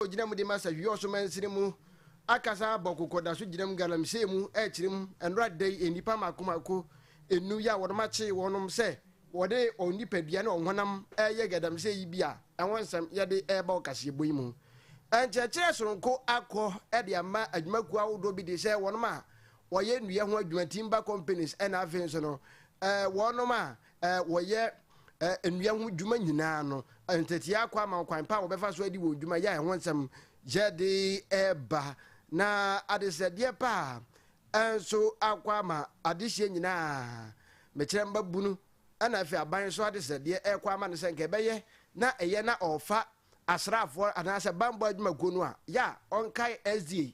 ogyina mu de ma sɛ hwee ɔso mansini mu akasa abɔ koko da so gyinam galamsey mu ɛrekyerɛ mu nnora da yi nnipa mmaako mmaako nnum yi a wɔnom akyee wɔnom sɛ wɔde wɔn nipadua ne wɔn honam ɛreyɛ gadamsey yi bi a ɛho nsɛm yɛde ɛreba ɔkaseɛbɔ yi mu nkyerɛkyerɛ soronko akɔ ɛde ama adwumakuo ahodoɔ bi de sɛ wɔnom a wɔyɛ nnua ho adwuma timber companies ɛna afei nso no ɛɛ wɔnom a wɔyɛ nnua ho dwuma nyinaa no, nteteaa kɔ ama ɔkwan pa a wɔbɛfa so adi wɔn dwuma yɛ a ɛho nsɛm yɛ de ba, na adesrɛdeɛ pa a nso akɔ ama adehyeɛ nyinaa mekyerɛ mmabunu ɛna afei aban so adesrɛdeɛ ɛrekɔ ama no sɛ nka ɛbɛyɛ na ɛyɛ na ɔrefa asraafoɔ anaasɛ bammɔ adwumakuo no a yɛ a ɔnkae SDA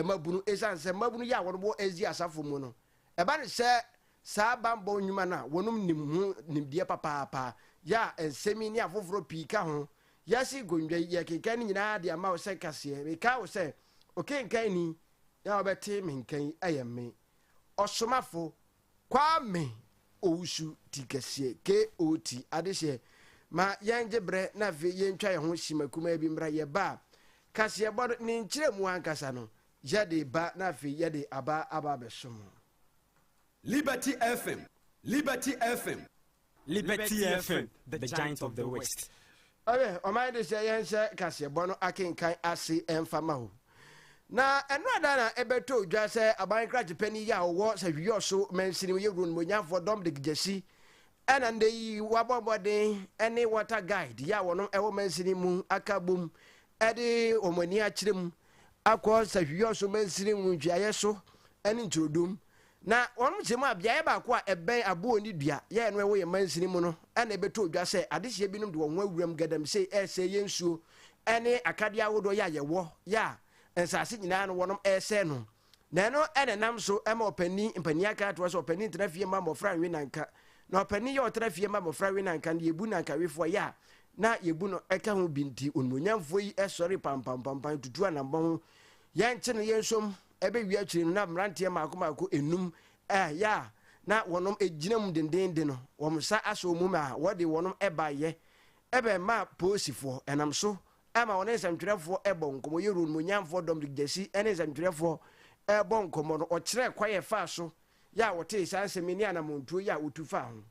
mmabunu ɛsiane sɛ mmabunu yɛ a wɔn wɔ SDA asafo mu no Ɛba no sɛ saa bammɔ nnwuma no a wɔnom nim ho nimdeɛ papaapa yɛ a nsɛm yi ne afoforɔ pii ka ho. Wiase nkondwa yi yɛrekenkan no nyinaa de ama wo sɛ nkaseɛ. Mekae wo sɛ okenkanni a wobɛte me nka yi yɛ me, Ɔsomafo Kwame Owusu ti kɛseɛ, KOT. Adehyeɛ, ma yɛngye berɛ na afei yɛntwa yɛn ho hyima kumaa bi mmra yɛn ba a kaseɛbɔ no ne nkyerɛmu ankasa no Yɛde ba na afei yɛde aba aba abɛso mo. Liberty FM, Liberty FM. Liberty FM, the giant of the west. Ɔyɛ ɔman de sɛ yɛnhyɛ kaseɛbɔ no akenkan ase ɛmfa mma hɔ. Na ɛno ada na ɛbɛtɔ odwa sɛ aban krakye panin yi a ɔwɔ Sahwi-Yɔso mansini mu yɛ Wuro no Mmɔnyanfoɔ Domdic Gyasi ɛna nnɛ yi wabɔ mmɔden ɛne water guide yi a wɔnom ɛwɔ mansini mu aka bom de wɔn ani akyerɛ mu akɔ Sahwiɔso Mansini Nwonhyiaeɛ so ne Nturodum. Na wɔnom kyerɛ mu a beaeɛ baako a ɛbɛn aboɔ ne dua yɛ ɛno ɛwɔ yɛn mansini mu no na ɛbɛtɔ odwa sɛ adehyeɛ binom de wɔn ho awuram gadamsei ɛresɛe yɛn nsuo ne akadeɛ ahodoɔ yɛ a yɛwɔ yɛ a nsaase nyinaa no wɔnom ɛresɛe no. Na ɛno na ɛnam so ma ɔpanin mpanin aka atoa sɛ ɔpanin ntena fie mma mmɔfra nwe nanka. Na ɔpanin yɛ ɔtra fie mma mmɔfra we nanka no, yɛbu nankawefoɔ yɛ a na yɛbu no ka ho bi nti, onimuonyamfoɔ yi sɔre pampampampan tutu anammɔn ho. Yɛnkye no yɛnsom ɛbɛwie akyire no na mmeranteɛ mmaako mmaako nnum a yɛ a na wɔnom gyina mu dendeenden no, wɔn nsa asɔ wɔn mu a wɔde wɔnom baeɛ bɛmaa Polisifoɔ, ɛnam so ma wɔne nsɛntwerɛfoɔ rebɔ nkɔmmɔ. Yɛ Rhone Muonyanfoɔ Dominic Gyasi ne nsɛntwerɛfoɔ rebɔ nkɔmmɔ no, ɔkyerɛɛ kwan a ɛfaa so yɛ a wɔtee saa nsɛm yi ne anamɔntuo yɛ a wɔtu faa ho.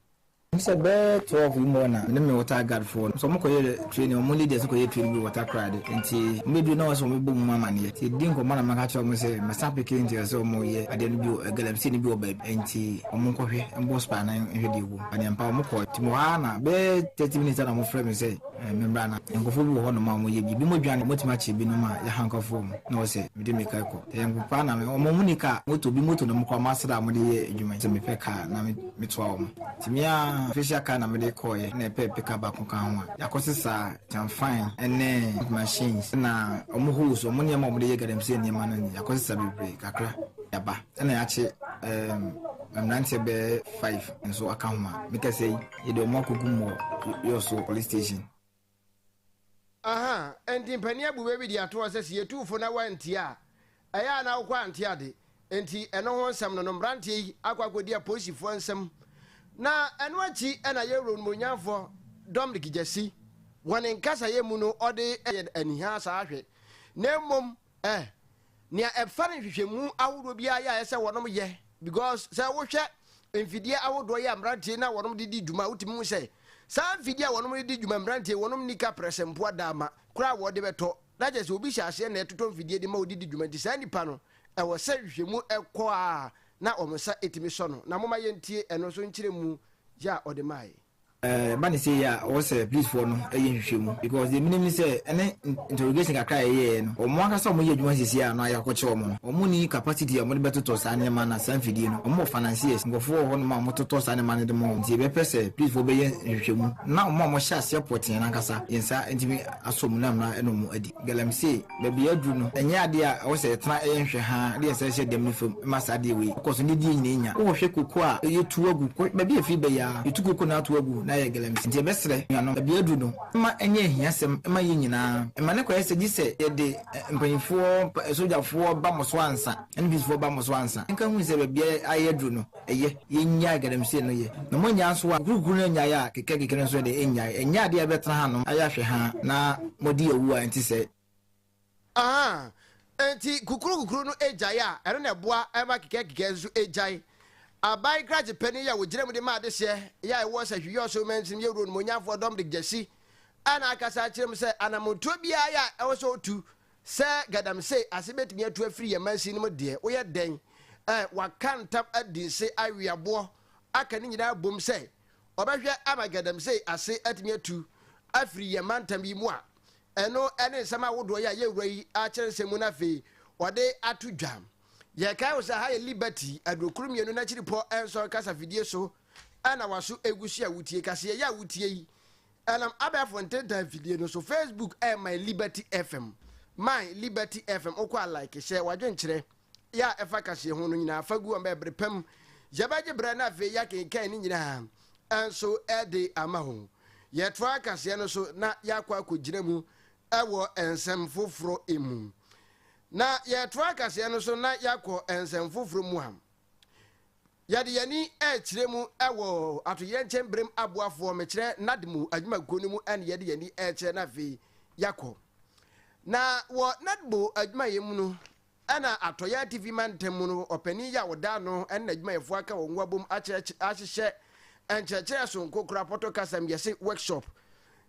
Sɛ bɛyɛ twelve yi mu hɔ na me ne me water guard foɔ no, sɛ wɔn kɔyɛ training, wɔn leaders no kɔyɛ training bi wɔ water Krade, nti wɔn bɛduru na wɔsɛ wɔn bɛbɔ mu amaneɛ, nti yɛdidi nkɔmmɔ na maka kyerɛ wɔn sɛ mɛsan apeke nti ɛsɛ sɛ wɔn yɛ adeɛ no bi wɔ galamsey no bi wɔ baabi, nti wɔn nkɔhwɛ, mbɔ spy no nhwɛ deɛ ɛwɔ mu, anea mpa wɔn kɔɔɛ, nti mewɔ ha na bɛyɛ thirty minutes na wɔn frɛ me sɛ. Me mmara no. Nkurɔfoɔ bi wɔ hɔnom a wɔyɛ bi. Binom dwane, wɔatumi akyere binom a yɛaha nkurɔfoɔ mu, na wɔse sɛ mede me car kɔ. Ɛyɛ me paa na me, wɔn nni car, moto, bi moto nom koraa wɔasra a wɔde yɛ adwuma yi, sɛ mepɛ car a na metoa wɔn. Nti me ara official car na mede kɔeɛ, ɛna ɛpɛ pick up baako ka ho a yɛakɔsesa kyanfan ne machines, ɛna wɔn hose, wɔn nneɛma a wɔde yɛ galamsey nneɛma no ne yɛakɔsesa bebree kakra de aba, ɛna yɛakye mmeranteɛ bɛyɛ five nso aka ho a mekasa yi. Yɛde wɔn akɔkum wɔ Yosso Police Station. Aha, enti mpanin abu bɛ bi de ato hɔ sɛ sɛ yɛtu wo fo na woantie a, ɛyɛ a na wokɔ ante ade. Enti ɛno ho nsɛm no no, mmeranteɛ yi akɔ akɔdi apolisifoɔ nsam. Na ɛno akyi na yɛn Wura Onumonyamfoɔ Dominic Gyasi, wɔ ne nkasaeɛ mu no, ɔde yɛn anihaa saa hwɛ. Na mmom Eh, nea ɛfa ne nhwehwɛmu ahodoɔ biara yɛ a ɛsɛ wɔnom yɛ because sɛ wohwɛ mfidie ahodoɔ yɛ a mmeranteɛ na wɔnom de di dwuma wotumi hu sɛ saa mfidie a wɔnom de di dwuma mmeranteɛ wɔnom ni ka prɛsɛmpoa daama koraa a wɔde bɛtɔ na kyɛ sɛ obi hyɛ aseɛ na ɛtotɔ mfidie de ma ɔde di dwuma nti saa nipa no ɛwɔ sɛ nhwehwɛmu ɛkɔ a na wɔn nsa ɛtumi sɔ no na moma yɛntie ɛno nso nkyerɛmu yɛ a ɔde maae. Ɛba no sei a ɔwɔ sɛ police foɔ no yɛ nhwehwɛmu because deɛ menim ne sɛ ɛne interrogation kakra a yɛyɛɛ no wɔn ankasa a wɔyɛ adwuma sisi a no a yɛakɔkyɛ wɔn no wɔn nni capacity a wɔde bɛtotɔ saa nneɛma na saa mfidie no wɔn wɔ financiers nkurɔfoɔ wɔ hɔ nom a wɔtotɔ saa nneɛma no de ma wɔn nti yɛbɛpɛ sɛ police foɔ bɛyɛ nhwehwɛmu na wɔn a wɔhyɛ aseɛ pɔtee no ankasa yɛn nsa ntumi asɔ mu na mmara ɛna wɔn adi galamsey. baabi a aduru no, ɛnyɛ adeɛ a ɛwɔ sɛ yɛtena yɛ nhwɛ haa de yɛn nsa hyɛ dɛm no fam ma saa adeɛ wei kɔ so na ɛdi yɛn nyinaa nya. Wowɔ hwɛ koko a yɛtu agu, kɔ baabi a ɛfiri ba yi ara, yɛtu koko na ato agu na ayɛ galamsey. Nti yɛbɛsrɛ anuanom, baabi a aduru no, mma ɛnyɛ ahiasɛm mma yɛn nyinaa. Mma no kɔyɛ sɛ gye sɛ yɛde mpanyimfoɔ, sogyafoɔ ba mo so ansa, NPCfoɔ ba mo so ansa. Yɛnka nhunu sɛ baabi a ayɛ aduru no, ɛyɛ. Yɛnnyae galamsey no yɛ. Na moannya nso a, kukurukuru no annyae a, kekɛkekɛ no nso de, ɛnnyae. Ɛnyɛ adeɛ a ɛbɛtena hanom ayɛ ahwɛhaa na moadi awu a ɛnte sɛɛ. Ahaa, enti kukurukukuru no gyae a, ɛno na ɛboa ma kekɛkekɛ nso gyae. Aban krakye panin yi a ɔgyina mu de ma adehyeɛ yɛ a ɛwɔ sɛ Hwi Ɔsom Mansin mu yɛ Wura Onimuonyamfoɔ Dominic Gyasi a na akasa akyerɛ mu sɛ anammɔntuo biara yɛ a ɛwɔ sɛ ɔtu Sɛ galamsey ase betumi atu afiri yɛn mansin no mu deɛ, woyɛ dɛn? Ɛ, wɔaka ntam adi se aweaboɔ aka ne nyinaa bom sɛ wɔbɛhwɛ ama galamsey ase atumi atu afiri yɛn mantam yi mu a. Ɛno ne nsɛm ahodoɔ yi a yɛrewura yi ara kyerɛ nsɛm mu na afei wɔde ato dwa. Yɛkae wo sɛ ha yɛ Liberty Aduokron Mmienu N'akyiripɔ Nson Kasafidie so na waso egu so a wutie. Kaseɛ yi a wutie yi Ɛnam abɛɛfo ntentan mfidie no so, Facebook ɛyɛ My Liberty FM, My Liberty FM, wokɔ a like, hyɛ w'adwenkyerɛ yɛ a ɛfa kaseɛ ho no nyinaa fa gu wɔn bɛɛ bere pam. Yɛbɛgye berɛ na afei yɛakenkan ne nyinaa nso de ama ho. Yɛtoa kaseɛ no so na yɛakɔ akɔgyina mu wɔ nsɛm foforɔ mu. Na yɛtoa kaseɛ no so na yɛakɔ nsɛm foforɔ mu a, Yɛde yɛn ani rekyerɛ mu wɔ atoyerɛnkyɛm berem aboafoɔ, mekyerɛ NAAD mu adwumakuo no mu na yɛde yɛn ani rekyerɛ na afei yɛakɔ. Na wɔ NAAD mu adwumayɛ mu no, na Atɔeɛ Atifi Mantam mu no ɔpanin yi a ɔda ano ne n'adwumayɛfoɔ aka wɔn ho abom akyerɛkyerɛ ahyehyɛ nkyerɛkyerɛ sononko koro apɔtɔ kasa mu yɛse workshop.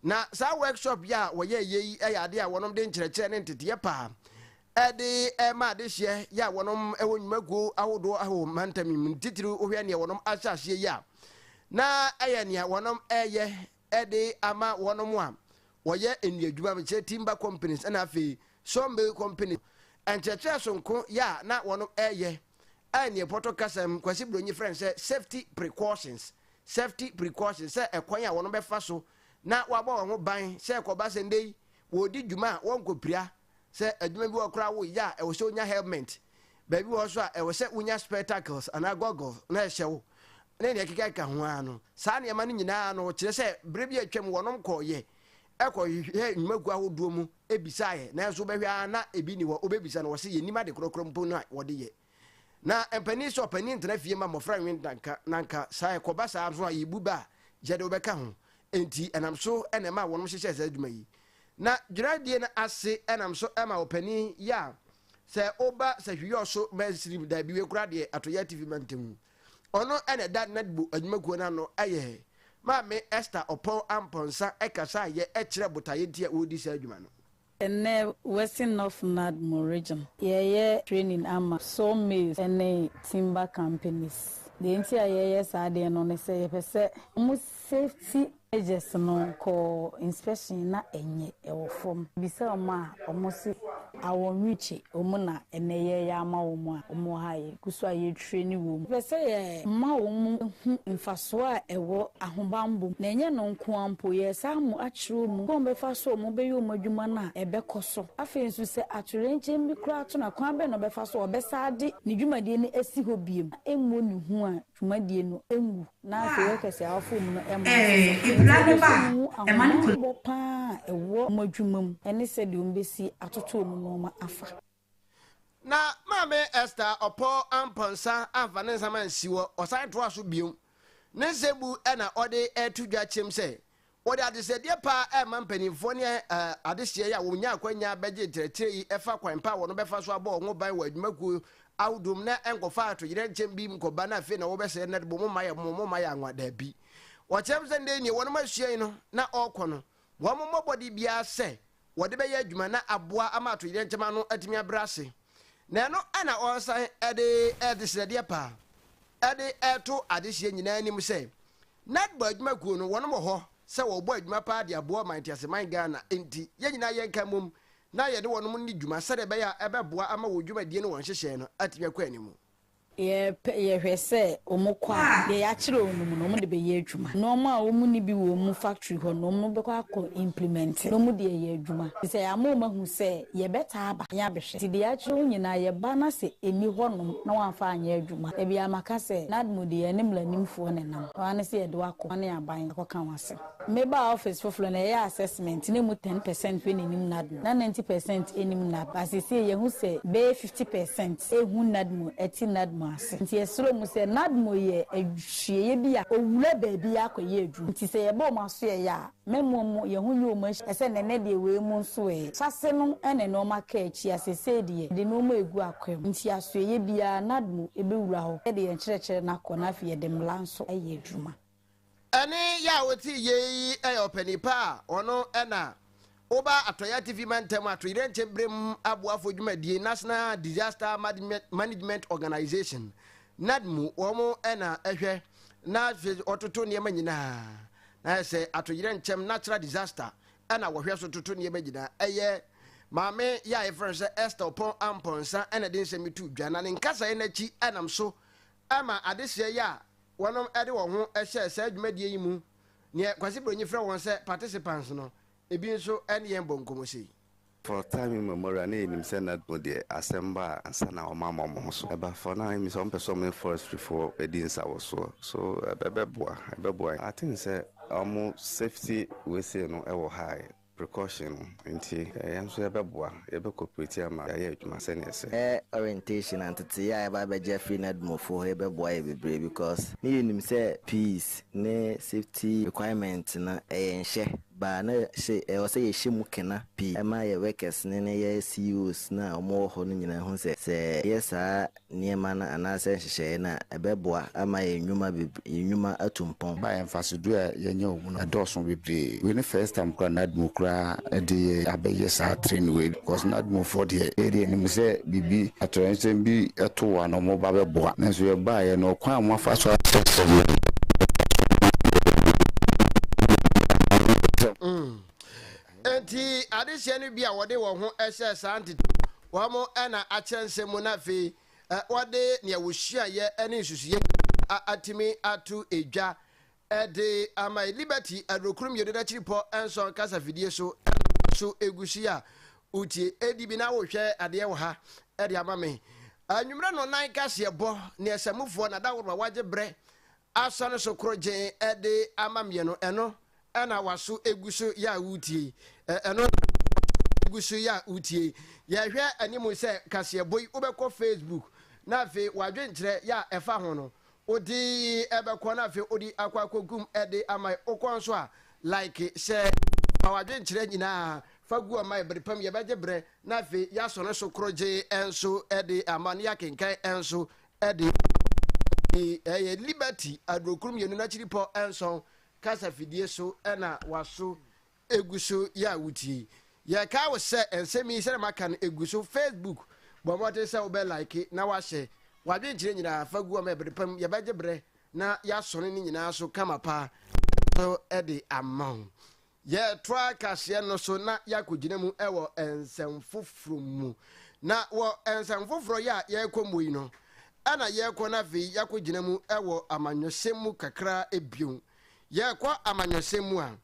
Na saa workshop yi a wɔyɛeɛ yi yɛ adeɛ a wɔnom de nkyerɛkyerɛ ne nteteeɛ pa de rema adehyeɛ yɛ a wɔnom wɔ nnwumakuo ahodoɔ ahoɔ mantam yi mu no titiriw wohwɛ neɛ wɔnom ahyɛ aseɛ yi a na ɛyɛ nea wɔnom ɛyɛ de ama wɔnom a wɔyɛ nnuadwuma mekyerɛ timber companies ɛna afei sawmill company nkyerɛkyerɛ sonko yɛ a na wɔnom ɛyɛ a neɛ pɔtɔ kasam kwasi bronyi frɛ no sɛ safety precautions safety precautions sɛ ɛkwan a wɔnom bɛfa so na wɔabɔ wɔn ho ban sɛ ɛkɔba sɛ ndɛ yi wɔdi dwuma a wɔnkɔpira Sɛ adwuma bi wɔ hɔ koraa a woyɛ a, ɛwɔ sɛ wunya helmet. Baabi wɔ hɔ nso a, ɛwɔ sɛ wunya spectacles anaa goggles na ɛhyɛ wo, ne nea ɛkekakeka ho ara no. Saa nneɛma no nyinaa no kyerɛ sɛ bere bi a atwam wɔnom kɔeɛ kɔhwehwɛɛ nnwumakuo ahodoɔ mu bisaeɛ, nanso wobɛhwɛ ara na ebi nni hɔ, wobɛbisa no, wɔse yɛnnim ade korɔkorɔ mpo no a wɔde yɛ. Na mpanin sɛ ɔpanin ntena fie mma mmɔfra nwe ndanka, na anka saa ɛkɔba saa nso a, yebu ba a, gye de wobɛka ho. Enti ɛnam so na ɛmaa wɔnom hyehyɛɛ saa adwuma yi. Na dwuradie no ase nam so ma ɔpanin yɛ a sɛ woba Sahwiyɔ so Mansirim daabi wei koraa deɛ Atoyɛ Atifi Mantam mu. Ɔno na ɛda Nadbo adwumakuo no ano yɛ Maame Esther Ɔpɔn Ampɔnsa kasaayɛ kyerɛ botaeɛ nti a wɔredi saa adwuma no. Ɛnnɛ Western North Nadmo Region yɛyɛ training ama saw mills ne timber companies. Deɛ nti a yɛyɛ saa adeɛ no ne sɛ yɛpɛ sɛ wɔn safety measures no kɔ inspection na ɛnyɛ ɛwɔ fam. Bisa wɔn a wɔse awɔ nwi kye wɔn na ɛnnɛ yɛreyɛ ama wɔn a wɔwɔ ha a yɛgu so a yɛretwa. hwɛ no wom. Yɛpɛ sɛ yɛma wɔn hu mfasoɔ a ɛwɔ ahobammɔ mu, na ɛnyɛ no nko ara mpo, yɛresan wɔn akyerɛ wɔn kwan a wɔbɛfa so a wɔbɛyɛ wɔn adwuma no a ɛbɛkɔ so. Afei nso, sɛ atoyerɛnkyɛm bi koraa to no a, kwan bɛn na ɔbɛfa so a ɔbɛsan de ne dwumadie no asi hɔ bio na ɛmmɔ ne hu a dwumadie no nwu na afei wɔka sɛ awofo wɔ mu no mma nsesa. Enti yɛpɛ sɛ wɔhu ahobammɔ pa ara a ɛwɔ wɔn adwuma mu ne sɛdeɛ wɔbɛsi atoto wɔn nneɛma afa. Na Maame Esther ɔpɔ ampɔ nsa amfa ne nsam ansi hɔ, ɔsan toaa so bio. Ne nsebu na ɔde reto dwa kyerɛm sɛ, wɔde adesrɛdeɛ pa rema mpanimfoɔ ne adehyeɛ yi a wɔnyaa akwanya bɛgye nkyerɛkyerɛ yi fa kwan pa a wɔbɛfa so abɔ wɔn ho ban wɔ adwumakuo ahodoɔ mu na ɛnkɔfa atoyerɛnkyɛm bi nkɔba na afei na wɔbɛsrɛ nnɛ de mo mma yɛ mo mo mma yɛ anwa daabi. Wɔkyerɛm sɛ nnɛ yi nea wɔnom asua yi no na ɔrekɔ no Wɔmmɔ mmɔden biara sɛ wɔde bɛyɛ adwuma na aboa ama atoyerɛnkyɛm ano atumi abrɛ ase, na ɛno na wɔsan de adesrɛdeɛ pa de reto adehyeɛ nyinaa anim sɛ, Netball adwuma kuo no, wɔnom wɔ hɔ sɛ wɔbɔ adwuma paa de aboa ɔman teaseman Ghana, enti yɛn nyinaa yɛnka mmom na yɛne wɔnom nni dwuma sɛdeɛ ɛbɛyɛ a ɛbɛboa ama wɔn dwumadie ne wɔn nhyehyɛɛ no atumi akɔ anim. Yɛpɛ, yɛhwɛ sɛ wɔn kɔ a, deɛ yɛakyerɛ wɔn no, wɔn de bɛyɛ adwuma. Nnoɔma a wɔn nni bi wɔ wɔn factory hɔ no, wɔn bɛkɔ akɔ implemɛnte na wɔn de ayɛ adwuma. Nti sɛ yɛama wɔn ahu sɛ yɛbɛtaa aba ne abɛhwɛ. Nti deɛ yɛakyerɛ wɔn nyinaa, yɛba na sɛ ɛnni hɔ nom na wɔamfa anyɛ adwuma a, ɛbia maka sɛ, NADMO deɛ yɛne mmranimfoɔ na ɛnam. Wɔn ara ne sɛ yɛde wo akɔ, wɔne aban akɔka wo asɛm. Me baa office foforo no, yɛyɛɛ assessment na emu ten percent pɛ na enim NADMO, na ninety percent nnim NADMO. But seesei yɛahu sɛ bɛyɛ fifty percent nhu NADMO, ɛte NADMO ase. Enti yɛsrɛ wɔn sɛ NADMO yɛ adwuieɛ bi a owura baabi akɔyɛ adwuma. Enti sɛ yɛbɔ wɔn asoɛeɛ a, mɛmmoa mu, yɛn ho nyɛ wɔn ahyia. Ɛsɛ sɛ nnɛnnɛ deɛ wei mu nso ɛ. Ahyɛase no na nnoɔma kaa akyi a seesei deɛ yɛde nnoɔma regu akwam. Enti asoɛeɛ biara NADMO bɛwura hɔ. Yɛde yɛn nkyerɛkyerɛ no akɔ na afei yɛde mmara nso ayɛ adwuma. Ɛne yɛ a wote yɛ yi yɛ ɔpanin pa a ɔno na Oba Atɔeɛ Atifi Mantam Atoyerɛnkyɛm Berem Aboafo Dwumadie, National Disaster Management Organization, NADMU, wɔn na ɛhwɛ na wɔtoto nneɛma nyinaa. Na ayɛ sɛ atoyerɛnkyɛm, natural disaster, na wɔhwɛ so toto nneɛma nyinaa. Ɛyɛ maame yɛ a yɛfrɛ no sɛ Esther Ɔpɔn Ampɔnsa na ɛde nsɛm yi to dwa, na ne nkasaeɛ no akyi nam so ma adehyeɛ yɛ a Wɔnom de wɔn ho hyɛɛ saa dwumadie yi mu, neɛ Kwasi Bronyi frɛ wɔn sɛ participants no, ebi nso ne yɛn bɔ nkɔmmɔ sei. For Time Immemorial na yɛnim sɛ na no deɛ asɛm ba a nsa na wɔn ama wɔn ho so ɛba for now ɛmi sɛ wɔn pɛ sɛ wɔn ne forestry foɔ ɛdi nsa wɔ soɔ so ɛbɛboa ɛbɛboa I think sɛ wɔn safety wei sei no ɛwɔ ha a. Precaution no nti, yɛn nso yɛbɛboa, yɛbɛ cooperate ama yɛayɛ adwuma sɛnea ɛsɛ. Ɛ orientation na nteteyɛ a yɛba abɛgye afiri Nadmofo hɔ yi bɛboa yɛn bebree because ne yɛnim sɛ peace ne safety requirement no ɛyɛ nhyɛ baa na hyɛ ɛwɔ sɛ yɛhyɛ mu kena pii ɛma yɛ workers no ne yɛ CEOs no a wɔwɔ hɔ no nyinaa hu sɛ sɛ yɛyɛ saa nneɛma no anaasɛ nhyehyɛeɛ no a, ɛbɛboa ama yɛn nnwuma beb yɛn nnwuma atu mpɔn. Ba yɛ mfasodoɔ a yɛnya wɔ mu no ɛdɔɔso bebree. Wei ne first time koraa NAAD mu koraa ɛde yɛ abɛyɛ saa training wei because NAAD mu foɔ deɛ yɛ deɛ yɛnim sɛ biribi atoyerɛnsɛm bi to wɔn a na wɔba bɛboa nanso yɛbaeɛ no ɔkwan a moafa so akyerɛkyerɛ yɛn no ɛboa yɛn bebree. Enti adehyeɛ no bi a wɔde wɔn ho hyɛɛ saa ntetee wɔn na akyerɛ nsɛm mu na afei wɔde nea wɔsuaeɛ ne nsusuiɛ nyinaa atumi ato edwa de ama Liberty Adurokuro Mmienu N'akyiripɔ Nson Kasafidie so ɛna so egu so yi a wotie edi bi na wohwɛ adeɛ wɔ ha de ama me anwummerɛ no nan kaseɛbɔ ne asamufoɔ na daworo a wagye berɛ Asɔ no so koro gyee de ama mmienu. Ɛno na waso gu so yɛ a woretie yi. Ɛno na waso gu so yɛ a woretie yi. Yɛhwɛ anim sɛ kaseɛbɔ yi wobɛkɔ Facebook na afei w'adwenkyerɛ yɛ a ɛfa ho no wode bɛkɔ na afei wode akɔ akɔgum de ama yɛ. Wokɔ nso a like hyɛ fa w'adwenkyerɛ nyinaa fa gu ɔma yɛ. Bere pa mu yɛbɛgye berɛ na afei yɛasɔ no so koro gyee nso de ama na yɛakenkan nso Ɛde yi ɛyɛ Liberty adurokuro mmienu n'akyiripɔ nson kasa fidie so na waso egu so yɛ a wotie yi. Yɛkae wo sɛ nsɛm yi sɛdeɛ maka no egu so Facebook, bɔ mmɔden sɛ wobɛ like na wahyɛ w'adwenkyerɛ nyinaa fa gu hɔ ma ɛbere pam yɛbɛgye berɛ na yɛasɔne ne nyinaa so kama paa so de ama wo. Yɛtoa kaseɛ no so na yɛakɔgyina mu wɔ nsɛm foforɔ mu. Na wɔ nsɛm foforɔ yi a yɛrekɔ mu yi no, ɛna yɛrekɔ no afei yɛakɔgyina mu wɔ amanyɔsɛm mu kakra bio. Yɛrekɔ amanyɔsɛm mu a,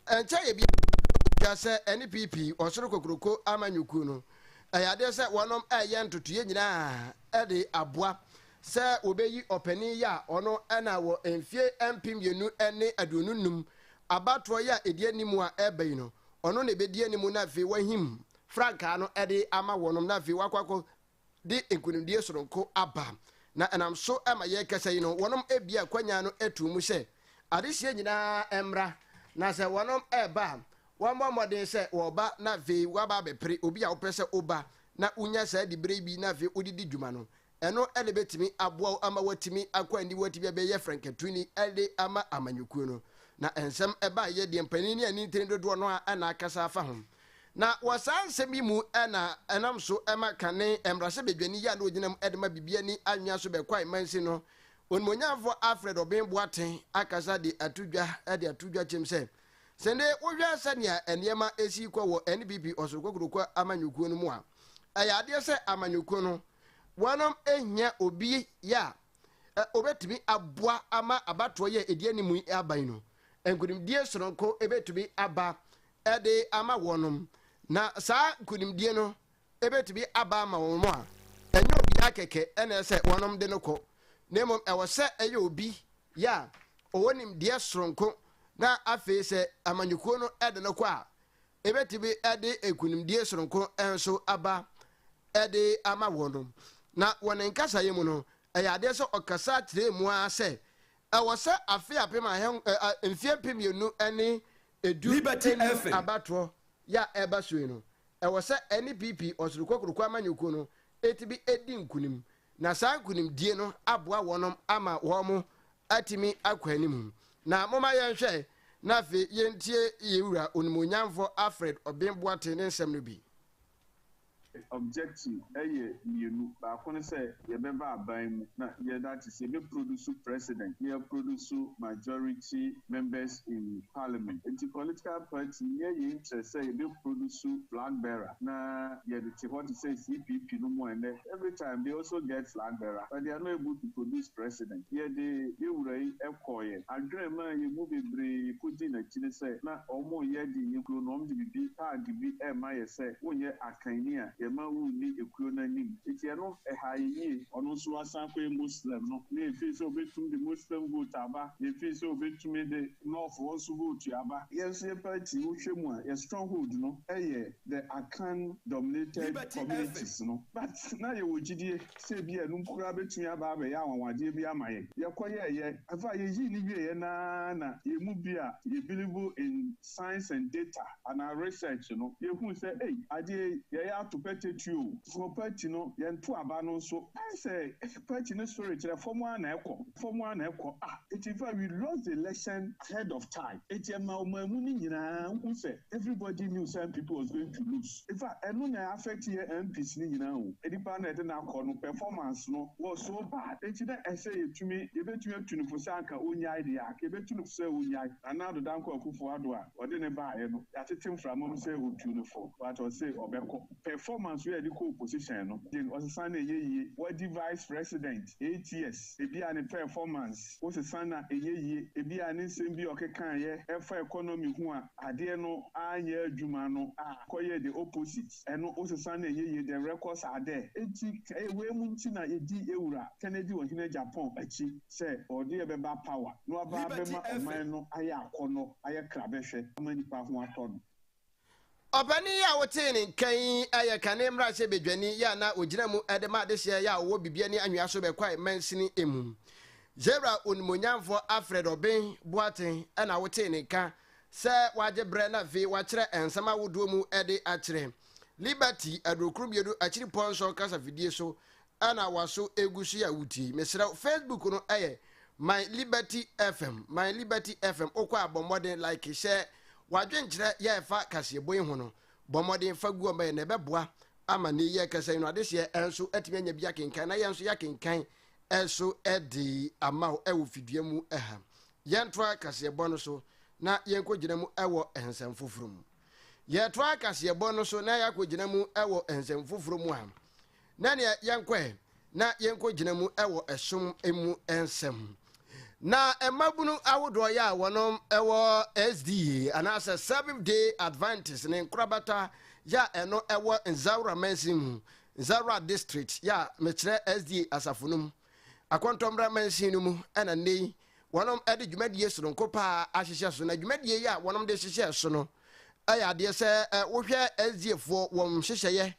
ɛnkyɛ yɛ biara tua sɛ ɛne PP, Ɔsoro Kokuroko Amanyɔkuo no, ɛyɛ adeɛ sɛ wɔnom reyɛ ntotoeɛ nyinaa de aboa sɛ wɔbɛyi ɔpanin yi a ɔno na wɔ mfie mpem mmienu ne aduonu nnum Abatoɔ yi a ɛdi anim a ɛreba yi no, ɔno na ɛbɛdi anim na afei wɔahim frankaa no de ama wɔnom na afei wɔakɔ akɔ de nkunimdie sononko aba. Na ɛnam so ma yɛrekasa yi no, wɔnom abue akwannya no ato mu sɛ adehyeɛ nyinaa mmra na sɛ wɔnom reba a, wɔmmɔ mmɔden sɛ wɔba na afei wɔaba abɛpere obi a wopɛ sɛ woba na wonya saa diberɛ yi bi na afei wode di dwuma no. Ɛno na ɛbɛtumi aboa wo ama woatumi akɔ anim, woatumi abɛyɛ frankatuni de ama amanyɔkuo no. Na nsɛm baeɛ deɛ mpanin ne anintini dodoɔ no ara na akasa afa ho. Na wɔ saa nsɛm yi mu na ɛnam so ma kane mmarahyɛbadwani yi a na ɔgyina mu de ma Bibiani anwea so bɛkwae mansin no onimuonyamfoɔ Alfred Obeng Boateng akasa de ato dwa de ato dwa kyɛm sɛ sɛde wohwɛ sɛnea nneɛma si kɔ wɔ NPP Ɔsoro Kokroko amanyɔkuo no mu a ɛyɛ adeɛ sɛ amanyɔkuo no Woanom hia obi a obetumi aboa ama abatoɔ yi a ɛdi anim yi aba yi no. Nkunimdie sononko betumi aba de ama wɔnom, na saa nkunimdie no betumi aba ama wɔn a, ɛnyɛ obiara kɛkɛ na ɛsɛ wɔnom de no kɔ, na mmom ɛwɔ sɛ ɛyɛ obi yɛ a ɔwɔ nimdeɛ sononko na afei sɛ amanyɔkuo no de no kɔ a, Ebetumi de nkunimdie soronko nso aba de ama wɔn. Na wɔ ne nkasaeɛ mu no, ɛyɛ adeɛ sɛ ɔkasa kyerɛɛ mu ara sɛ ɛwɔ sɛ afe apem ahen mfeɛ mpem mmienu ne edu nnum abatoɔ yɛ a ɛreba so yi no, ɛwɔ sɛ ɛne PP, Ɔsoro Kokoroko Amanyɔkuo no, tumi di nkunim Na saa nkonimdie no aboa wɔnom ama wɔn atumi akɔ anim. Na momma yɛnhwɛ, na afei yɛntie yɛn Wura Onimuonyamfoɔ Alfred Obeng Boateng ne nsɛm no bi. Objective yɛ mmienu, baako ne sɛ yɛbɛba aban mu na yɛda ate sɛ yɛbɛ produce president na yɛ produce majority members in parliament. Nti political party nyɛ yɛn interest sɛ yɛbɛ produce flag bearer na yɛde te hɔ te sɛ CPP nom a ɛnnɛ Every time they also get flag bearer but they are not able to produce president. Yɛde yɛn wura yi kɔeɛ, adwene maa yɛn mu bebree kɔdii n'akyiri sɛ na wɔreyɛ de yɛn kuro no wɔde biribi tag bi rema yɛn sɛ wonyɛ akanni a yɛmma wonni ekuo no anim. Enti ɛno ɛhaa yɛn yie. Ɔno nso asan akɔyɛ Muslim no na yɛfii sɛ ɔbɛtumi de Muslim vote aba, yɛfii sɛ ɔbɛtumi de North foɔ nso vote aba. Yɛn nso yɛn party wohwɛ mu a yɛn stronghold no yɛ the Akan dominated communities no, but na yɛwɔ gyidie sɛ ebia ɛno mpo koraa bɛtumi aba abɛyɛ anwanwadeɛ bi ama yɛn. Yɛkɔyɛeɛ, ɛfa a yɛyii no wieeɛ no ara na yɛn mu bi a yɛ believe in science and data anaa research no, yɛhuu sɛ ei, adeɛ yi yɛyɛ ato pɛtɛtwi o, for party no yɛnto aba no nso, ayɛ sɛ Fa akyi no so rekyerɛ fam ara na ɛkɔ, fam ara na ɛkɔ. A. Enti fa we lost the election ahead of time. Enti ɛma ɔman mu no nyinaa hu sɛ everybody knew sɛ NPP was going to lose. In fact, ɛno na ɛ affect yɛ MPs no nyinaa o. Nnipa a na yɛde no akɔ no performance no was so bad. Enti na ɛsɛ yɛtumi, yɛbɛtumi atu no fo sɛ anka ɔnyae deɛ a, anka yɛbɛtu no fo sɛ ɔnyae. Nana Addo Dankwa Akufo-Addo a wɔde no baeɛ no, yɛatete mframa mu sɛ wɔtu no fo, but ɔse ɔbɛkɔ. Performance wei a yɛde kɔɔ position no gye ɔsesã na ɛyɛ yie. Wadi vice president eight years, ebia ne performance wo sesã na ɛyɛ yie. Ebia ne nsɛm bi a ɔkekaeɛ ɛfa economy ho a adeɛ no anyɛ adwuma no a kɔyɛɛ the opposite. Ɛno wo sesã na ɛyɛ yie, the records are there. Enti ɛyɛ wei mu nti na yɛdi Ewura Kennedy Ɔhene Japan akyi sɛ ɔde yɛ bɛba power na waba Liberty abɛma FM. ɔman no ayɛ akɔnnɔ, ayɛ krabɛhwɛ ama nnipa ho atɔ no. Ɔpanin yi a wotee ne nka yi yɛ kane mmarahyɛbadwani a na ogyina mu de ma adehyeɛ yi a ɔwɔ bibia ne anwea so bɛkwae mansini mu. Zebra onimuonyamfoɔ Alfred Obeng Boateng na wotee ne nka sɛ wagye berɛ na afei wakyerɛ nsɛm ahodoɔ mu de akyerɛ Liberty adurokron mmienu akyiripɔ nson kasafidie so na waso egu so yi a wotie yi, mesrɛ wo, Facebook no yɛ My Liberty FM, My Liberty FM. Wokɔ a bɔ mmɔden like, hyɛ w'adwenkyerɛ yɛ ɛfa kaseɛbɔ yi ho no, bɔ mmɔden fa gu ɔma yɛ na ɛbɛboa ama ne yɛ kasa yi no adeseɛ nso atumi anya bi akenkan na yɛn nso yɛakenkan ɛso de ama wo ɛwɔ fidua mu ɛha. Yɛntoa kaseɛbɔ no so na yɛnkɔgyina mu ɛwɔ nsɛm foforɔ mu. Yɛtoa kaseɛbɔ no so na yɛakɔgyina mu ɛwɔ nsɛm foforɔ mu a, Na neɛ yɛnkɔ ɛ na yɛnkɔ gyina mu wɔ ɛsom mu nsɛm. Na mmabunu ahodoɔ yɛ a wɔnom wɔ SDA anaasɛ Seventh Day Adventist ne nkorabata yɛ a ɛno ɛwɔ Nzaura mansin mu, Nzaura District yɛ a mekyerɛ SDA asafo no mu, Akɔntɔmmra mansin no mu ɛna nnɛ yi wɔnom ɛde dwumadie soronko paa ahyehyɛ so. Na dwumadie yɛ a wɔnom de hyehyɛ so no ɛyɛ adeɛ sɛ wohwɛ SDA foɔ wɔn nhyehyɛeɛ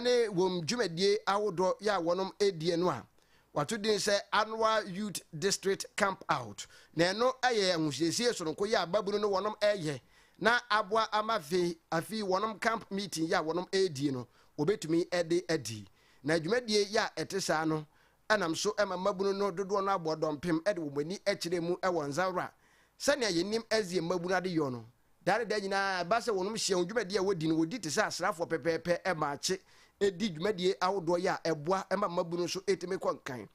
ne wɔn dwumadie ahodoɔ yɛ a wɔnom ɛdie no a wato din sɛ Annual Youth District Camp Out na ɛno yɛ ahosiesie sononko yɛ a babunu no wɔnom ɛyɛ na aboa ama afe afi wɔnom camp meeting yɛ a wɔnom ɛdie no wɔbɛtumi ɛde adi na dwumadie yɛ a ɛte saa no Ɛnam so ma mmabunu no dodoɔ no ara bɔɔ dɔmpem de wɔn ani kyerɛɛ mu wɔ Nzawra. Sɛnea yɛnim Ezie mmabunu adeyɔ no, daa ne daa nyinaa ɛba sɛ wɔnom hyia wɔn dwumadie a wɔdi no wɔdi te sɛ asraafoɔ pɛpɛɛpɛ ma akye di dwumadie ahodoɔ yi a ɛboa ma mmabunu nso tumi kɔ nkan.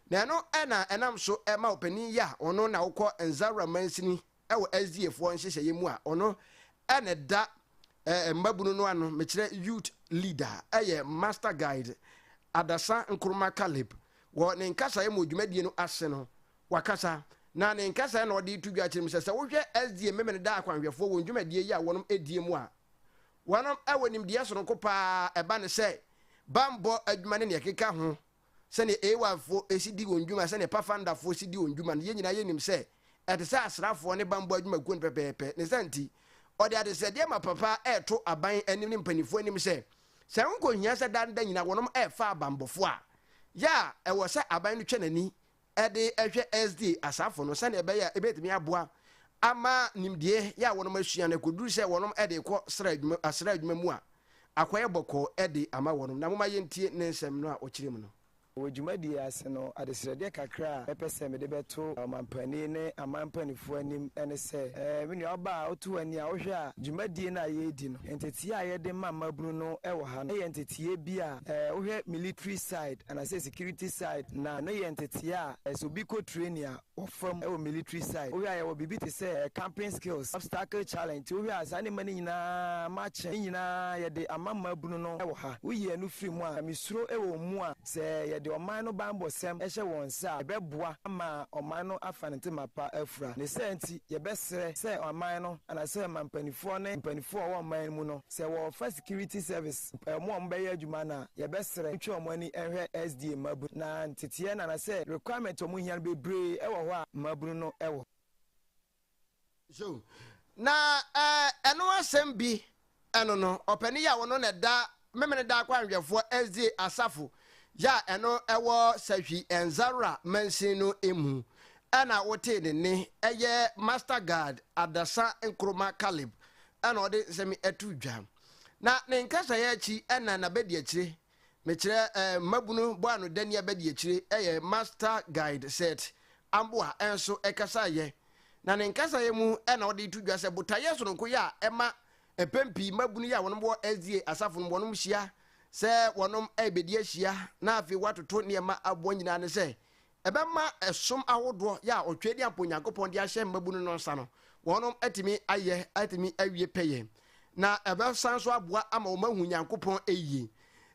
Na ɛno na ɛnam so ma ɔpanin yi a ɔno na ɔkɔ Nzawra mansini wɔ SDAfoɔ nhyehyɛeɛ mu a ɔno na ɛda mmabunu no ano, mekyerɛ youth leader, yɛ Master Guide Adasa Nkrumah Caleb. Wɔ ne nkasaeɛ mu wɔ dwumadie no ase no, wakasa na ne nkasaeɛ na ɔde reto dwa akyerɛ mu sɛ, sɛ wohwɛ SDA Memeneda akwanhwɛfoɔ wɔn dwumadie yi a wɔnom die mu a, wɔnom wɔ nimdeɛ sononko pa ara, ɛba ne sɛ, bammɔ adwuma ne nea ɛkeka ho. sɛnea Ewafoɔ si di wɔn dwuma, sɛnea Pafandafoɔ si di wɔn dwuma no, yɛn nyinaa yɛnim sɛ ɛte sɛ asraafoɔ ne bammɔ adwumakuo no pɛpɛɛpɛ. Ne saa nti, ɔde adesrɛdeɛ ma papa a ɛreto aban anim ne mpanimfoɔ anim sɛ, sɛ ɛho nkɔhia sɛ daa ne da nyinaa wɔnom refa abanbɔfoɔ a, yɛ a ɛwɔ sɛ aban no twa n'ani de hwɛ SD asafo no sɛnea ɛbɛyɛ a ebetumi aboa ama nimdeɛ yɛ a wɔnom asua no akoduru sɛ wɔnom de rekɔ sra adwuma asra adwuma mu a akɔyɛ bɔkɔɔ de ama wɔnom. Na momma yɛntie ne nsɛm no a ɔkyerɛ mu no. Wɔ dwumadie yi ase no, adesrɛdeɛ kakra a mɛpɛ sɛ mede bɛto ɔmampanin ne aman mpaninfoɔ anim ne sɛ, ɛɛ, me nua ɔbaa a woto w'ani a wohwɛ a dwumadie no a yɛredi no, nteteeɛ a yɛde ma mmabunu no wɔ ha no yɛ nteteeɛ bi a, ɛɛ, wohwɛ military side anaasɛ Security side na no yɛ ntetee a ɛsɛ obi kɔ training a wɔ fam wɔ military side wohwɛ a yɛwɔ biribi te sɛ camping skills obstacle challenge nti wohwɛ a saa nneɛma no nyinaa makye ne nyinaa yɛde ama mmaabunu no wɔ ha woyi ɛno firi mu a mesuro wɔ wɔn mu a sɛ yɛde ɔman no banbɔsɛm hyɛ wɔn nsa a ɛbɛboa ama ɔman no afa ne ntema pa afura ne saa nti yɛbɛsrɛ sɛ ɔman no anaasɛ ɔman mpaninfoɔ ne mpaninfoɔ a wɔwɔ ɔman no mu no Sɛ wɔfa security service pɛ wɔn a wɔbɛyɛ adwuma no a, yɛbɛsrɛ ntwe wɔn ani nhwɛ SDA mmabunu na nteteɛ no anasɛ requirement a wɔhia no bebree wɔ hɔ a mmabunu no wɔ. So na ɛno asɛm bi ɛno no ɔpanin yi a ɔno na ɛda Memeneda Akwanhwɛfoɔ SDA asafo yɛ a ɛno ɛwɔ Sahwi Nzarora mansin no mu ɛna wotee ne nne ɛyɛ Master Guard Adasa Nkrumah Caleb na ɔde nsɛm to dwa. Na ne nkasaeɛ akyi na n'abadiakyire, mekyerɛ mmabunu bɔanodani abadiakyire yɛ Master Guide Seth Amboa nso kasaeɛ. Na ne nkasaeɛ mu na ɔde to dwa sɛ botaeɛ sononko yi a ɛma mpɛn pii mmabunu yi a wɔn wɔ SDA asafo no mu wɔn hyia sɛ wɔn rebɛdi ahyia na afei wɔatoto nneɛma aboa nyinaa ne sɛ Ɛbɛma ɛsom ahodoɔ yɛ a Ɔtwɛdeɛ ampa Onyankopɔn de ahyɛ mmabunu no nsa no, wɔnom atumi ayɛ, atumi awie pɛyɛ. Na ɛbɛsan nso aboa ama wɔn ahu Nyankopɔn yie.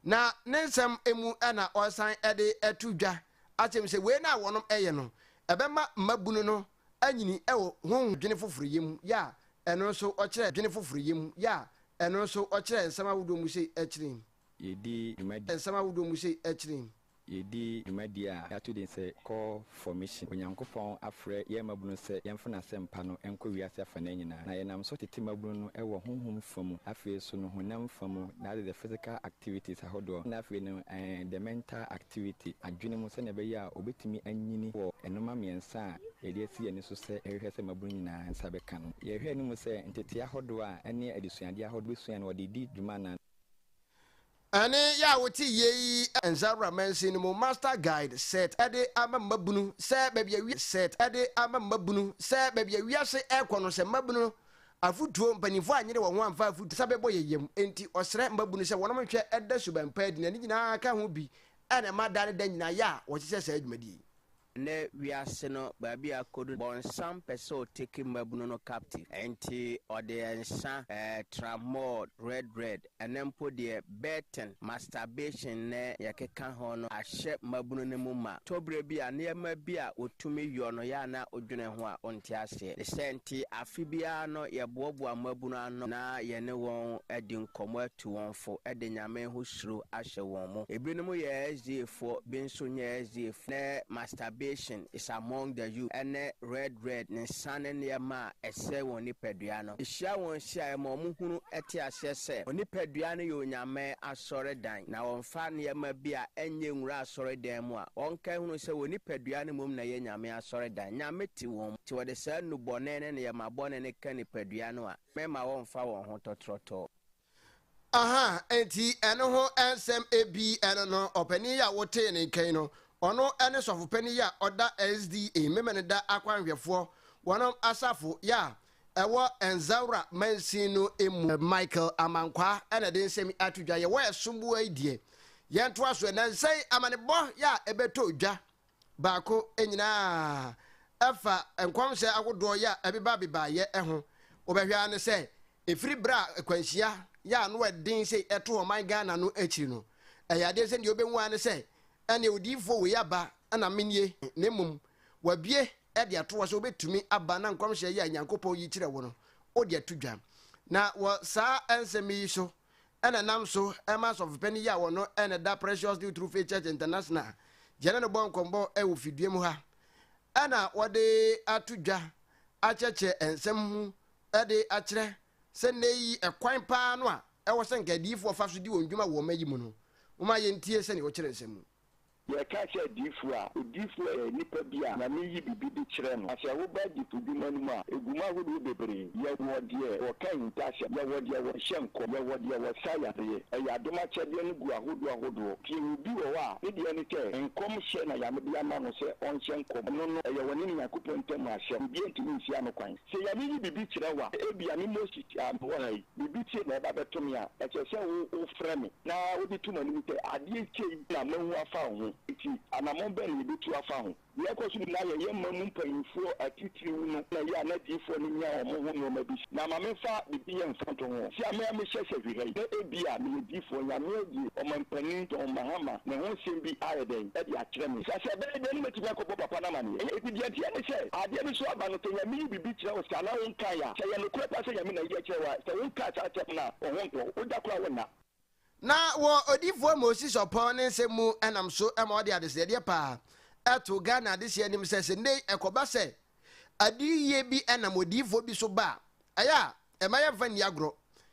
Na Ne nsɛm mu na ɔresan de ato dwa akyerɛ mu sɛ wei no a wɔnom ɛyɛ no, ɛbɛma mmabunu no anyini wɔ honhom adwene foforɔ yɛ mu yɛ a ɛno nso ɔkyerɛ adwene foforɔ yɛ mu yɛ a ɛno nso ɔkyerɛ nsɛm ahodoɔ mu sei akyire yi. Yɛdi dwuma di. Nsɛm ahodoɔ mu sei akyire yi. Yɛredi dwumadie a yɛato din sɛ Call for Mission. Onyankopɔn afrɛ yɛn mmabunu sɛ yɛmfa n'asɛmpa no nkɔ wiase afanaa nyinaa. Na yɛnam so tete mmabunu no wɔ honhom fa mu, afei nso no honam fa mu, that is the physical activities ahodoɔ, na afei no eh, the mental activity, adwene mu, sɛdeɛ ɛbɛyɛ a wɔbɛtumi anyini wɔ nnoɔma mmiɛnsa a yɛde asi yɛn ani so sɛ yɛhwehwɛ sɛ mmabunu nyinaa nsa bɛka no. Yɛhwɛ anim sɛ nteteeɛ ahodoɔ a ɛne adesuadeɛ ahodoɔ bɛsua no wɔde redi dwuma anaa? Ɛne yɛ a wote yei. Nzawura mansin no mu Master Guide Set de ama mmabunu sɛ baabi a wiase Set de ama mmabunu sɛ baabi a wiase rekɔ no sɛ mmabunu no afotuo mpaninfoɔ anyere wɔn ho amfa afotuo sa bɛbɔ yɛ yam enti ɔsrɛ mmabunu sɛ wɔnom nhwɛ da suban pa adi na ne nyinaa ka ho bi na ɛma da ne da nyinaa yɛ a wɔhyehyɛ saa dwumadie yi. Nnɛ wiase no baabi a akodu no, bɔnsam pɛ sɛ ɔtake mmabunu no captive, ɛnti ɔde nsa, eh, tramol, red red, ɛnɛ mpo deɛ betting, masturbation ne deɛ ɛkeka ho no ahyɛ mmabunu no mu ma, tɔberɛ bi a nneɛma bi a ɔtumi yɔ no yɛ a na ɔdwene ho a ɔnte aseɛ. Ne sɛ nti afe biara no yɛboaboa mmabunu ano na yɛne wɔn adi nkɔmmɔ atu wɔn fo de Nyame ho suro ahyɛ wɔn mu. Ebinom yɛ SDAfoɔ, bi nso nyɛ SDAfoɔ. ne masturbation is among the youth ɛne red red ne nsa ne nneɛma a ɛsɛe wɔn nipadua no hyia wɔn hyia a ɛma wɔn hunu te aseɛ sɛ wɔn nipadua no yɛ Onyame asɔredan na wɔmfa nneɛma bi a ɛnyɛ nwura asɔredan mu a wɔnka nhunu sɛ wɔn nipadua no mmom na ɛyɛ Nyame asɔredan. Nyame te wɔn mu nti wɔde saa nnubɔne ne nneɛma bɔne no ka nipadua no a mɛmma wɔmfa wɔn ho tɔtrɔtɔɔ. Aha, enti ɛno ho nsɛm bi ɛno no, ɔpanin yi a wotee ne nka yi no, ɔno ne sɔfopanin yi a ɔda SDA, Memeneda Akwanhwɛfoɔ wɔn asafo yɛ a ɛwɔ Nzaura mansin no mu. Michael Amankwah na ɛde nsɛm yi ato dwa. Yɛwɔ ɛsom boa yi deɛ, yɛntoa so. Nnansa yi, amanebɔ yɛ a ɛbɛtɔ dwa baako nyina ara fa nkɔmhyɛ ahodoɔ yɛ a ɛbeba bebaeɛ ho. Wobɛhwɛ ara ne sɛ ɛfiri berɛ a akwanhyia yɛ a ano ɛden sei ɛto ɔman Ghana no akyiri no, ɛyɛ adeɛ sɛ deɛ wobɛhu ara ne sɛ ɛneɛ odiyifoɔ wei aba na mennie na mmom wabue de ato hɔ sɛ wobɛtumi aba na nkɔmhyɛ yɛ a Nyankopɔn yi kyerɛ wo no wode ato dwa. Na wɔ saa nsɛm yi so na ɛnam so ma asɔfopanyin yi a ɔno na ɛda Precious Dew True Faith Church International gyina no bɔ nkɔmbɔ wɔ fidua mu ha na wɔde ato dwa akyerɛkyerɛ nsɛm mu de akyerɛ sɛ nnɛ yi ɛkwan paa no a ɛwɔ sɛ nka adiyifo wɔfa so di wɔn dwuma wɔ ɔma yi mu no, momma yɛntie sɛnea ɔkyerɛ nsɛm mu. Yɛreka sɛ adiyifo a, odiyifo yɛ nipa bi a Nyame yi biribi de kyerɛ no. Na sɛ woba adiyifodwuma no mu a, egu mu ahodoɔ bebree. Yɛwɔ deɛ wɔka ahintasɛm, yɛwɔ deɛ wɔhyɛ nkɔm, yɛwɔ deɛ wɔsa yareɛ. Ɛyɛ adom akyɛdeɛ no gu ahodoɔ ahodoɔ. Nti yɛwɔ bi wɔ hɔ a, ne deɛ ne sɛ, nkɔm hyɛ na Nyame de ama no sɛ ɔnhyɛ nkɔm. Ɛno no, ɛyɛ wɔne ne Nyankopɔn ntam asɛm. Obiara ntumi nsia no kwan. Sɛ Nyame yi biribi kyerɛ wo a, ebia me Moses a mewɔ ha yi, Biribi te na ɛba bɛto me a, ɛsɛ sɛ wo, wofrɛ me, na wode to m'anim sɛ, Adeɛ atwa yi na mahu afa wo ho, enti anammɔn bɛn na yɛbɛtu afa ho? Deɛ ɛkɔ so nyinaa yɛ yɛn man mu mpanimfoɔ atitiriw no na ɛyɛ a n'adiyifoɔ no nya wɔn ho nneɛma bi si. Na ma memfa biribi yɛ mfa nto ho. Sɛ me ara mehyɛ sɛ hwehwɛ yi, na ebia meyɛ diyifoɔ, Nyame abue Ɔmampanin John Mahama ne ho nsɛm bi ayɛ dɛn de akyerɛ me? Sɛ sɛ ɛbɛyɛ dɛn na matumi akɔbɔ papa no amanneɛ? Enti deɛ ɛteɛ ne sɛ, adeɛ no so aba no, sɛ Nyame yi bi kyerɛ wo saa na wonkae a, sɛ ɛyɛ nokorɛ paa sɛ Nyame na ayi akyerɛ wo a, sɛ wonkaa saa asɛm no a, wo ho ntɔ wo da koraa wonna. Na wɔ Odifoɔ Moses Ɔpɔn ne nsɛm mu nam so ma ɔde adesrɛdeɛ paa to Ghana adehyeɛ anim sɛ, sɛ nnɛ yi ɛkɔba sɛ adiyie bi nam odiyifoɔ bi so ba a, ɛyɛ a mma yɛmfa nni agorɔ.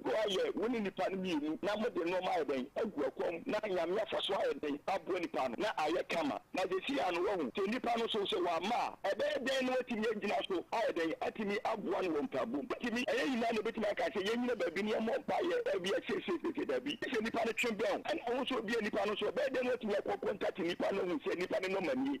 Boa yɛ wo ne nipa no mmienu na mode nnoɔma ayɛ dɛn agu akwam na Nyame afa so ayɛ dɛn aboa nipa no na ayɛ kama na sesei ano wahu sɛ nipa no so sɛ wamma a ɛbɛyɛ dɛn na watumi agyina so ayɛ dɛn atumi aboa no wɔ mpaabom atumi ɛnyɛ nyinaa na obɛtumi aka sɛ yɛnyina baabi na yɛmmɔ mpaeɛ dabi ɛsɛ sei sei sei dabi gye sɛ nipa no twe bɛn wo ɛna wo nso obia nipa no so ɛbɛyɛ dɛn na watumi akɔ contact nipa no ahu sɛ nipa no nɔma nie.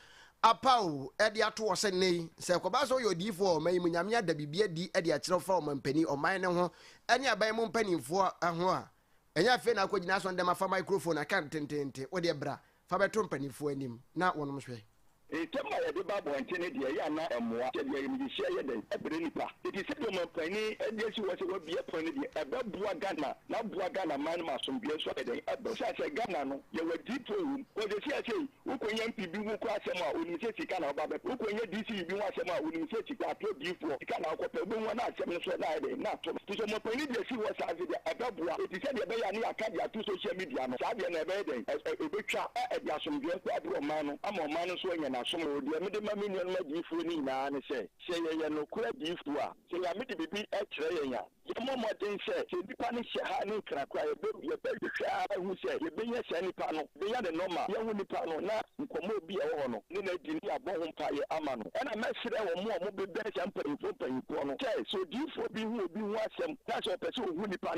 Apaw de ato hɔ sɛ nnɛyi, sɛ ɛkɔba sɛ woyɛ odiyifo wɔ ɔman yi mu, Nyame ada biribi adi de akyerɛw fa ɔmampanyin, ɔman no ho, ne aban mu mpanyimfo ho a, ɛnyɛ afei na akogyina asɔre dɛm afa microphone aka no tenteenten. Wo deɛ bra, fa bɛto mpanyimfo anim na wɔnom nhwɛ. Nsɛm a yɛde ba abɔnten no deɛ, ɛyɛ a na ɛmmoa. Sɛdeɛ ayamyɛhyia yɛ dɛn brɛ nnipa, enti sɛdeɛ ɔmampanyin de asi hɔ sɛ wɔabue pon no deɛ, ɛbɛboa Ghana, na aboa Ghanaman no ma asomdwoeɛ nso ayɛ dɛn aba. Esiane sɛ Ghana no, yɛwɔ adiyifoɔ wɔ mu, kɔɔ sɛ seesei, Wokonya MP bi ho kura asɛm a, onim sɛ sika na ɔba bɛpɛ. Wokonya DCE bi ho asɛm a, onim sɛ sika, atoro diyifoɔ, sika na ɔkɔpɛ. Wobɛhu wɔn a asɛm no soɔ na ayɛ dɛ, na ato no. Nso mɔpanin no deɛ ɛsi hɔ saa nso deɛ, ɛbɛboa. Enti sɛdeɛ ɛbɛyɛ a ne yɛaka de ato social media no, saa deɛ na ɛbɛyɛ dɛn? Ɛ, ɛ, ɛbɛtwa, na ɛde asomdwoeɛ nko abrɛ ɔman no, ama ɔman no nso anya n'asom. O, deɛ mede ma me nuanom adiyifoɔ no nyinaa ne sɛ, sɛ yɛyɛ nokorɛ adiyifoɔ a, sɛ Nyame de biribi kyerɛ yɛn a, Yɛmmɔ mmɔden sɛ, sɛ nipa no hyɛ ha ne Nkran koraa a, yɛbɛhu, yɛbɛhwehwɛ ara ahu sɛ yɛbɛnya saa nipa no, yɛbɛnya ne nɔma, yɛahu nipa no, na nkɔmmɔ bi a ɛwɔ hɔ no, ne no adi, na yɛabɔ ho mpaeɛ ama no. Ɛnna mɛsrɛ wɔn a wɔbɛbɛn saa mpanimfoɔ mpanimfoɔ no sɛ, sɛ odiyifoɔ bi hu obi ho asɛm, na sɛ ɔpɛ sɛ ɔhu nipa no,